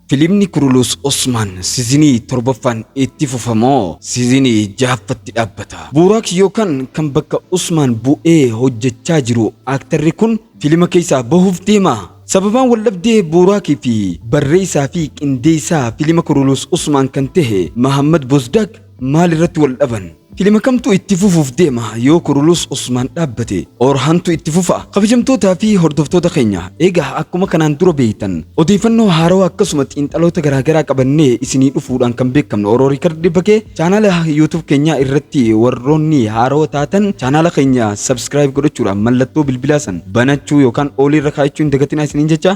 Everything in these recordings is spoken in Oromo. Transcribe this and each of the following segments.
Filimni Kurulus Osmaan sizinii torbaffaan itti fufa moo sizinii jahaffatti dhaabbata? Buuraak yookaan kan bakka Usmaan bu'ee hojjechaa jiru aaktarri kun filima keessaa bahuuf deemaa? Sababaan waldhabdee Buuraak fi barreessaa fi qindeessaa filima Kurulus Osmaan kan tahe Mahaammad Bozdaag, Maal irratti wal dhaban? Filima kamtu itti fufuuf deema yoo kurulus Usmaan dhaabbate Orhantu itti fufa kabajamtootaa fi hordoftoota keenya egaa akkuma kanaan dura beeytan odeeffannoo haarawaa akkasuma xiinxaloota garaagaraa qabannee isinii dhufuudhaan kan beekamnu Oroo Riikardi Bakee chaanaala YouTube keenyaa irratti warroonni haarawa taatan chaanaala keenya subscribe godhachuudhaan mallattoo bilbilaa san banachuu yookaan oolii irra kaa'achuu hin dagatinaa isiniin jecha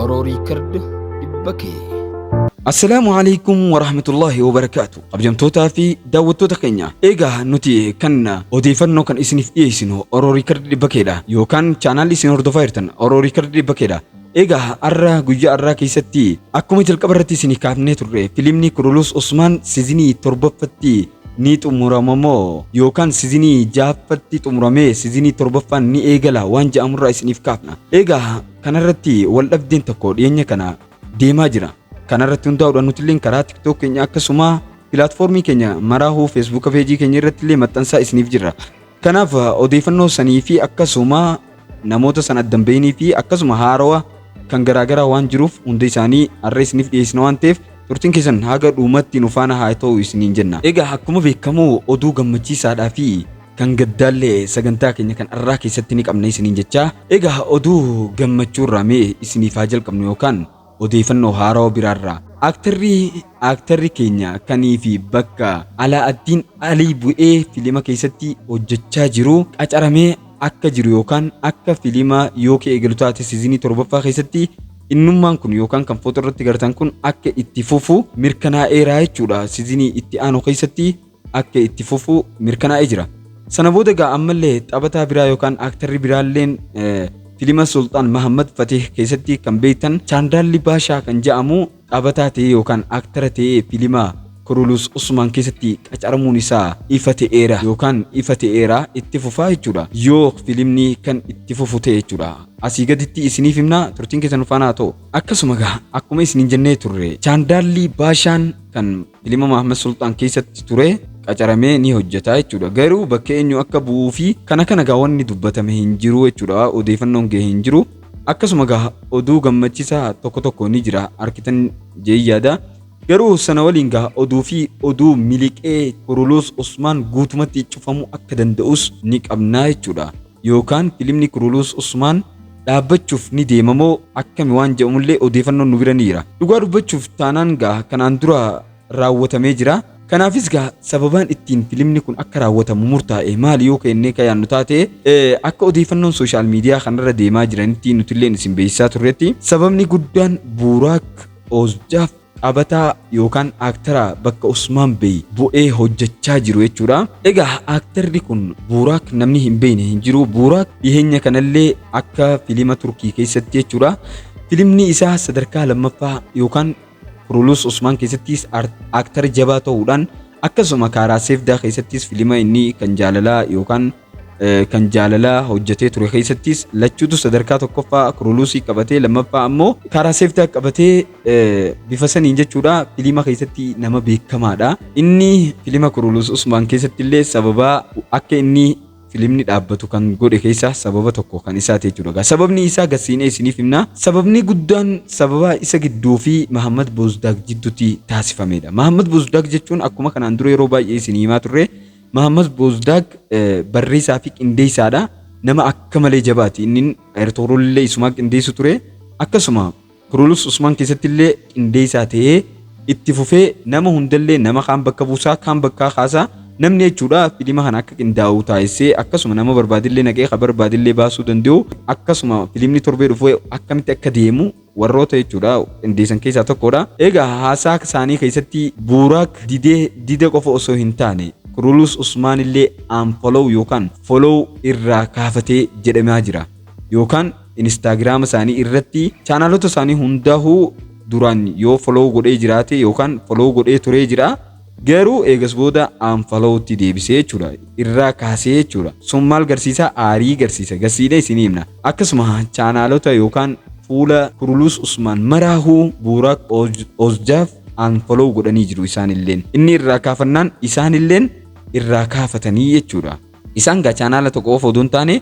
Oro Record dhibba kee. Assalaamu alaikum warahmatullahi wabarakaatu. Kabajamtootaa fi daawwattoota keenya eegaa nuti kan odeeffannoo kan isiniif dhiyeessinu Oro Record dhibba keedha yookaan chaanaalli isin hordofaa jirtan Oro Record dhibba keedha. Egaa har'a guyyaa har'aa keessatti akkuma jalqaba irratti isinii kaafnee turre filimni Kurulus Usmaan sizinii torbaffatti ni xumurama moo yookaan sizinii jaaffatti xumuramee sizinii torbaffaan ni eegala waan ja'amurraa isiniif kaafna. Egaa kanarratti wal dhabdeen tokko dhiyeenya kana deemaa jira. Kanarratti hundaa'uudhaan nuti illee karaa TikTok keenya akkasuma pilaatfoormii keenya maraahuu feesbuuka peejii keenya irratti illee maxxansaa isiniif jirra. Kanaaf odeeffannoo sanii fi akkasuma namoota san addan beeynii fi akkasuma haarawa kan garaagaraa waan jiruuf hunda isaanii har'a isiniif dhiyeessina waan ta'eef turtiin keessan haga dhuumatti nu faana haa ta'u isiniin jenna. Egaa akkuma beekamu oduu gammachiisaadhaa fi kan gaddaallee sagantaa keenya kan har'aa keessatti ni qabna isiniin jechaa. Egaa oduu gammachuurraa mee isiniif haa jalqabnu yookaan Odeeyfannoo haarawa biraarraa Aaktarri Aaktarri keenya kanii fi bakka Alaa'addiin Alii bu'ee filima keessatti hojjachaa jiru qacaramee akka jiru yookaan akka filima yoo ka eegalu taate sizinii 7ffaa keessatti innummaan kun yookaan kan footo irratti gartan kun akka itti fufu mirkanaa'eeraa jechuudha sizinii itti aanu keessatti akka itti fufu mirkanaa'ee jira. Sana booda egaa ammallee taphataa biraa yookaan aktarri biraalleen eh, filima Sultaan Mahammad Fatih keessatti kan beektan Chaandaalli Baashaa kan jedhamu taphataa ta'ee yookaan aktara ta'ee filima Kurulus Usmaan keessatti qacaramuun isaa ifa ta'eera yookaan ifa ta'eera itti fufaa jechuudha. Yoo filimni kan itti fufu ta'e jechuudha. Asii gaditti isiniif himna turtiin keessan faana haa ta'u. Akkasuma egaa akkuma isiniin jennee turre Chaandaalli Baashaan kan Ilma Mahammad Sulxaan keessatti ture qacaramee ni hojjetaa jechuudha. Garuu bakka eenyu akka bu'uu fi kana kana gaa wanni dubbatame hin jiru jechuudha. Odeeffannoon ga'e hin jiru. Akkasuma gaa oduu gammachiisaa tokko tokko ni jira arkitan jee yaada. Garuu sana waliin gaa oduu fi oduu miliqee Kuruluus Usmaan guutumatti cufamuu akka danda'us ni qabnaa jechuudha. Yookaan filimni Kuruluus Usmaan dhaabbachuuf ni deema moo akkami waan jedhamullee odeefannoon nu bira ni jira. Dhugaa dubbachuuf taanaan gaa kanaan dura raawwatamee jira. Kanaafis gaa sababaan ittiin filimni kun akka raawwatamu murtaa'e maali yoo keennee ka yaannu taate akka odeefannoon sooshaal miidiyaa kanarra deemaa jiranitti nutilleen isin beeksisaa turretti sababni guddaan Buuraak Oozjaaf Taphataa yookaan aktara bakka Usmaan Bey bu'ee hojjechaa jiru jechuudha. Egaa aktarri kun Buuraak namni hin beekne hin jiru. Buuraak dhiheenya kanallee akka filima Turkii keessatti jechuudha. Filimni isaa sadarkaa lammaffaa yookaan Kurulus Usmaan keessattis aktara jabaa ta'uudhaan akkasuma Kaaraa Seefdaa keessattis filima inni kan jaalalaa yookaan kan jaalalaa hojjetee ture keessattis lachuutu sadarkaa tokkoffaa kuruluusii qabatee lammaffaa ammoo karaa seeftaa qabatee bifa saniin jechuudha filiima keessatti nama beekamaadha. Inni filiima kuruluus Usmaan keessatti illee sababa akka inni filimni dhaabbatu kan godhe keessaa sababa tokko kan isaa ta'e jechuudha. Sababni isaa gasiinee isiniif himna. Sababni guddaan sababa isa gidduu fi Mahammad Boozdaag jidduutti taasifamedha. Mahammad Boozdaag jechuun akkuma kanaan dura yeroo baay'ee isin himaa turre Mahammad Boozdaag barreessaa fi qindeessaadha. Nama akka malee jabaati. Inni Ayirtooroollee isumaa qindeessu ture. Akkasuma Kurulus Usmaan keessatti illee qindeessaa ta'ee itti fufee nama hundallee nama kaan bakka buusaa kaan bakkaa kaasaa namni jechuudha filima kana akka qindaa'u taasisee akkasuma nama barbaadillee naqee ka barbaadillee baasuu danda'u akkasuma filimni torbee dhufu akkamitti akka deemu warroota jechuudha qindeessan keessaa tokkodha. Egaa haasaa isaanii keessatti Buuraak didee dida qofa osoo hin taane Kurulus Usmaan illee unfollow yookaan follow irraa kaafatee jedhamaa jira. Yookaan Instaagiraama isaanii irratti chaanaalota isaanii hundaa'uu duraan yoo follow godhee jiraate yookaan follow godhee turee jira. Garuu eegas booda unfollow tti deebisee jechuudha. Irraa kaasee jechuudha. Sun maal garsiisa? Aarii garsiisa. Garsiisnee isinii himna. Akkasuma chaanaalota yookaan fuula Kurulus Usmaan maraahuu Buuraak Oozjaaf unfollow godhanii jiru isaanilleen. Inni irraa kaafannaan isaanilleen irraa kaafatanii jechuudha. Isaan gaa chaanaala tokko qofa oduu hin taane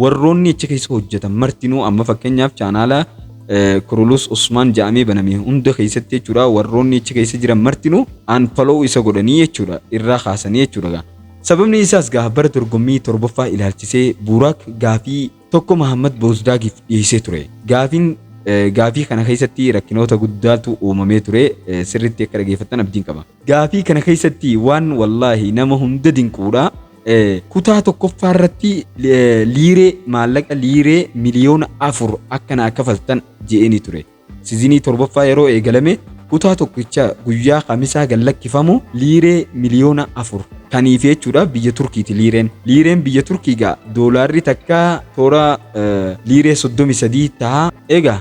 warroonni achi keessa hojjetan martinuu amma fakkeenyaaf chaanaala Kurulus Usmaan ja'amee baname hunda keessatti jechuudha warroonni achi keessa jiran martinuu aanfaloo isa godhanii jechuudha irraa kaasanii jechuudha gaa. Sababni isaas gaa bara dorgommii torbaffaa ilaalchisee Buuraak gaafii tokko Mahammad Boozdaagiif dhiyeessee ture. Gaafiin gaafii kana keessatti rakkinoota guddaatu uumamee ture sirriitti akka dhageeffattan abdiin qaba. Gaafii kana keessatti waan wallaahi nama hunda dinquudha. Kutaa tokkoffaa irratti liiree maallaqa liiree miliyoona afur akka naa kafaltan je'eeni ture. Sizinii torbaffaa yeroo eegalame kutaa tokkicha guyyaa kamisaa gad lakkifamu liiree miliyoona afur kaniif jechuudha biyya Turkiiti liireen. Liireen biyya Turkii gaa doolaarri takka toora liiree soddomi sadii taha. Egaa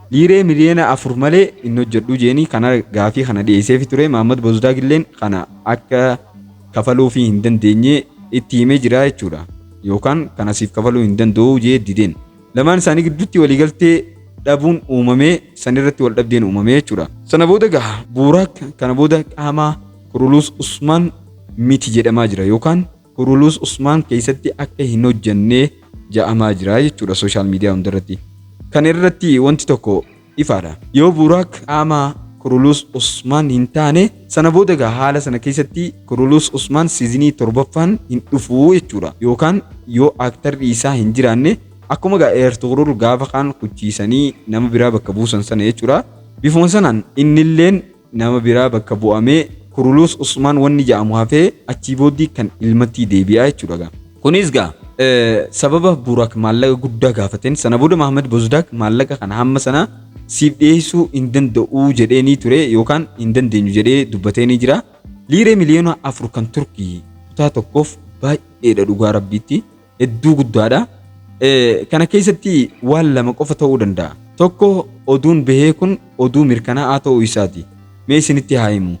Dhiiree miliyoona 4 malee hin hojjedhu jeeni kana gaafii kana dhiyeesseefi ture Maammad Bozdaag illeen kana akka kafaluufi hin dandeenye itti himee jira jechuudha yookaan kana siif kafaluu hin danda'u jee dideen lamaan isaanii gidduutti waliigaltee dhabuun uumamee san irratti wal dhabdeen uumamee jechuudha. Sana booda gaha Buuraak kana booda qaamaa Kuruluus Usmaan miti jedhamaa jira yookaan Kurulus Usmaan keessatti akka hin hojjanne ja'amaa jira jechuudha sooshaal miidiyaa hundarratti. Kan irratti wanti tokko ifaadha. Yoo Buuraak qaama Kurulus Usmaan hin taane sana booda egaa haala sana keessatti Kurulus Usmaan siizinii torbaffaan hin dhufu jechuudha. Yookaan yoo aaktarri isaa hin jiraanne akkuma egaa Eertugrul gaafa kaan kuchiisanii nama biraa bakka buusan sana jechuudha. Bifuma sanaan innilleen nama biraa bakka bu'amee Kuruluus Usmaan wanni ja'amu hafee achii booddii kan ilmattii deebi'aa jechuudha gaa. Kunis gaa sababa Burak maallaqa guddaa gaafateen sana booda Mahammad Bozdaak maallaqa kana hamma sana siif dhiyeessuu hin danda'u jedheenii ture yookaan hin dandeenyu jedhee dubbateenii jira. Liiree miliyoona afur kan Turkii kutaa tokkoof baay'eedha dhugaa rabbiitti. hedduu guddaadha. Kana keessatti waan lama qofa ta'uu danda'a. Tokko oduun bahee kun oduu mirkanaa'aa ta'uu isaati. Mee isinitti haa himu.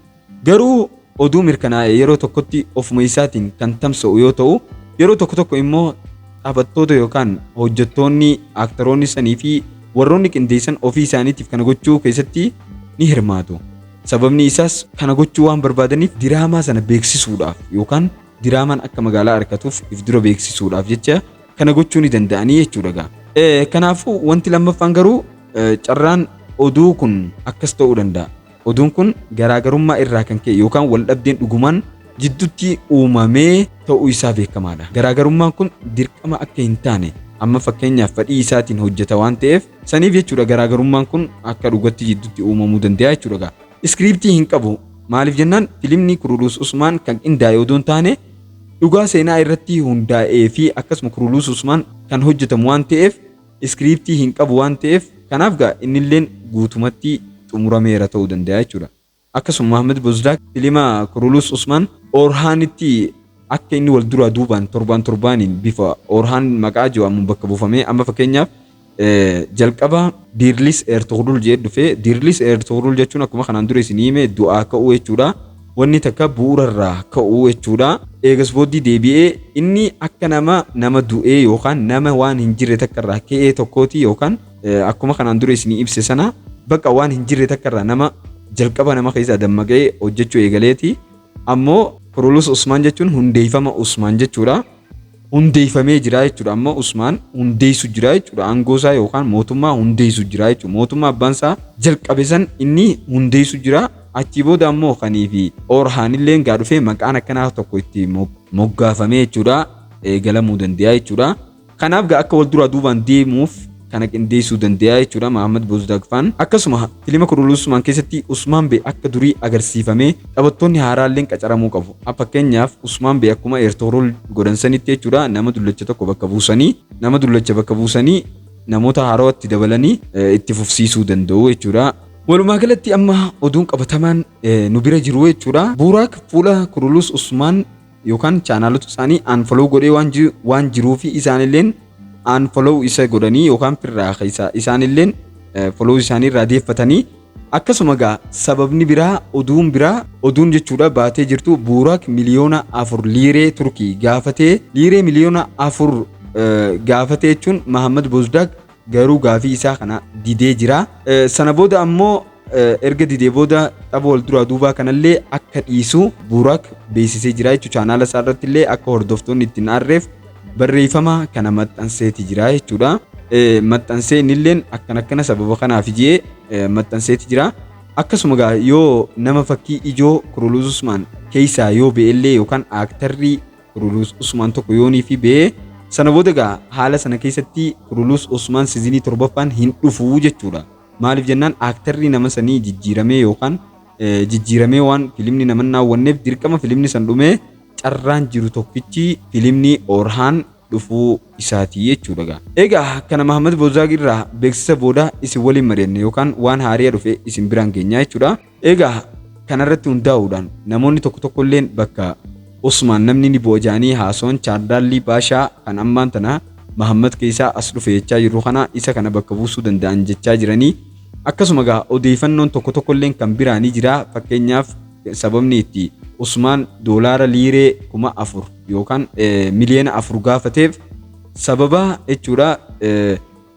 Garuu oduu mirkanaa'e yeroo tokkotti ofuma isaatiin kan tamsa'u yoo ta'u, yeroo tokko tokko immoo taphattoota yookaan hojjettoonni, aaktaroonni sanii fi warroonni qindeessan ofii isaaniitiif kana gochuu keessatti ni hirmaatu. Sababni isaas kana gochuu waan barbaadaniif diraamaa sana beeksisuudhaaf yookaan diraamaan akka magaalaa arkatuuf if dura beeksisuudhaaf jecha kana gochuu ni danda'anii jechuudha gaa. Eh, Kanaafuu wanti lammaffaan garuu eh, carraan oduu kun akkas ta'uu danda'a. Oduun kun garaagarummaa irraa kan ka'e yookaan wal dhabdeen dhugumaan jidduutti uumamee ta'uu isaa beekamaadha. Garaagarummaan kun dirqama akka hin taane amma fakkeenyaaf fedhii isaatiin hojjeta waan ta'eef saniif jechuudha garaagarummaan kun akka dhugatti jidduutti uumamuu danda'a jechuudha gaa. Iskiriiptii hin qabu. Maaliif jennaan filimni Kuruluus Usmaan kan qindaa'e odoo hin taane dhugaa seenaa irratti hundaa'ee fi akkasuma Kuruluus Usmaan kan hojjetamu waan ta'eef iskiriiptii hin qabu waan ta'eef kanaaf gaa innilleen guutumatti xumurameera ta'uu danda'a jechuudha. Akkasuma Mahammad Bozdaak filima Kuruluus Usmaan Oorhaanitti akka inni wal duraa duubaan torbaan torbaaniin bifa Oorhaan maqaa Jawaamuun bakka buufamee amma fakkeenyaaf Jalqaba Diirlis Eertugrul jedhee dhufe. Diirlis Eertugrul jechuun akkuma kanaan dura isin hime du'aa ka'uu jechuudha. Wanni takka bu'uurarraa ka'uu jechuudha. Eegas booddee deebi'ee inni akka nama nama du'ee yookaan nama waan hin jirre takkarraa ka'ee tokkooti yookaan akkuma kanaan dura isin ibse sana bakka waan hin jirre takkarraa nama jalqaba nama keessaa dammaqee hojjechuu eegaleeti. Ammoo Kurulus Usmaan jechuun hundeeffama Usmaan jechuudha. hundeeffamee jira jechuudha. Amma Usmaan hundeessu jira jechuudha. Aangoo isaa yookaan mootummaa hundeessu jira jechuudha. Mootummaa abbaan isaa jalqabe san inni hundeessu jira. Achii booda ammoo kanii fi Orhaan illee gaa dhufee maqaan akkanaa tokko itti moggaafamee jechuudha. Eegalamuu danda'a jechuudha. Kanaaf gaa akka wal duraa duubaan deemuuf kana qindeessuu danda'a jechuudha Mahammad Bozdaagfaan. Akkasuma filima Kurulusumaan keessatti Usmaan Bee akka durii agarsiifamee taphattoonni haaraalleen qacaramuu qabu. Fakkeenyaaf Usmaan Bee akkuma Eertoorol godhan sanitti jechuudha nama dullacha tokko bakka buusanii nama dullacha bakka buusanii namoota haaraatti dabalanii itti fufsiisuu danda'u jechuudha. Walumaa galatti amma oduun qabatamaan nu bira jiru jechuudha. Buuraak fuula Kurulus Usmaan yookaan chaanaalota isaanii unfollow godhee waan ji- waan jiruufi isaanilleen unfollow isa godhanii yookaan firraa keessaa isaanilleen eh, follow isaanii irraa deeffatanii akkasuma gaa sababni biraa oduun biraa oduun jechuudha baatee jirtu buuraak miliyoona afur liiree turkii gaafatee liiree miliyoona afur eh, gaafatee jechuun mahammad bozdaak Garuu gaafii isaa kana didee jira. Sana booda ammoo erga didee booda tapha wal duraa duubaa kanallee akka dhiisu Buurak beeksisee jira jechuudha. Chaanaala isaa irratti illee akka hordoftoonni ittiin aarreef barreeffama kana maxxanseeti jira jechuudha. Maxxansee innilleen akkan akkana sababa kanaaf jedhee maxxanseeti jira. Akkasuma gaa yoo nama fakkii ijoo Kuruluus Usmaan keessaa yoo be'ellee yookaan aaktarrii Kuruluus Usmaan tokko yoonii fi bee sana booda egaa haala sana keessatti Kuruluus Usmaan sizinii torbaffaan hin dhufu jechuudha. Maaliif jennaan aaktarri nama sanii jijjiiramee yookaan jijjiiramee waan filimni nama naawwanneef dirqama filimni san dhumee carraan jiru tokkichi filimni Orhaan dhufuu isaati jechuudha egaa. Egaa kana Mahammad Boozaag irraa beeksisa booda isin waliin mari'anne yookaan waan haariya dhufe isin biraan geenyaa jechuudha. Egaa kanarratti hundaa'uudhaan namoonni tokko tokkolleen bakka Usmaan namni ni bu'a jedhanii haasawan Chaardaallii Baashaa kan ammaan tana Mahammad keessaa as dhufe jechaa jirru kana isa kana bakka buusuu danda'an jechaa jiranii. Akkasuma gaa odeeyfannoon tokko tokkolleen kan biraa ni jira fakkeenyaaf sababni itti Usmaan doolaara liiree kuma afur yookaan miliyoona afur gaafateef sababa jechuudha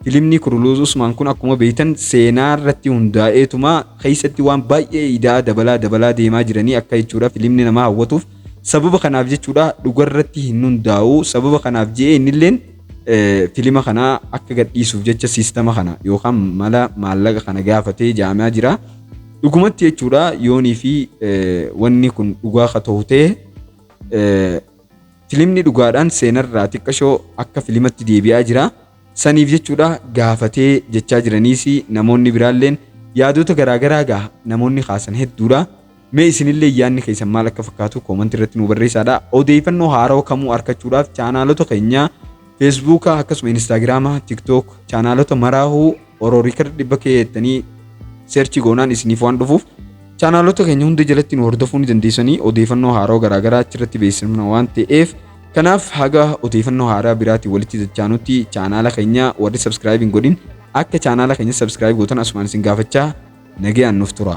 Filimni Kuruluuz Usmaan kun akkuma beektan seenaa irratti hundaa'eetuma keessatti waan baay'ee ida'aa dabalaa dabalaa deemaa jiranii akka jechuudha filimni nama hawwatuuf sababa kanaaf jechuudha dhugarratti hin hundaa'u sababa kanaaf je'ee innilleen filima kana akka gadhiisuuf jecha siistama kana yookaan mala maallaqa kana gaafatee jaamaa jira dhugumatti jechuudha yoonii fi wanni kun dhugaa ka ta'u ta'e filimni dhugaadhaan seenarraa xiqqashoo akka filimatti deebi'aa jira. Saniif jechuudha gaafatee jechaa jiraniis namoonni biraalleen yaadota garaa garaa gaha namoonni kaasan hedduudha. Mee isinillee yaadni keessan maal akka fakkaatu koomantii irratti nu barreessaadha. Odeeffannoo haarawa kamuu arkachuudhaaf chaanaalota keenya Feesbuuka akkasuma Instaagiraama, TikTok chaanaalota maraahuu Oro Record dhibba kee jettanii search goonaan isiniif waan dhufuuf chaanaalota keenya hunda jalatti nu hordofuu ni dandeessanii odeeffannoo haaraa garaagaraa achirratti beeksifna waan ta'eef kanaaf haga odeeffannoo haaraa biraatiin walitti dachaanutti chaanaala keenya warri subscribe hin godhin akka chaanaala keenya subscribe gootan asumaan isin gaafachaa nagayaan nuuf tura.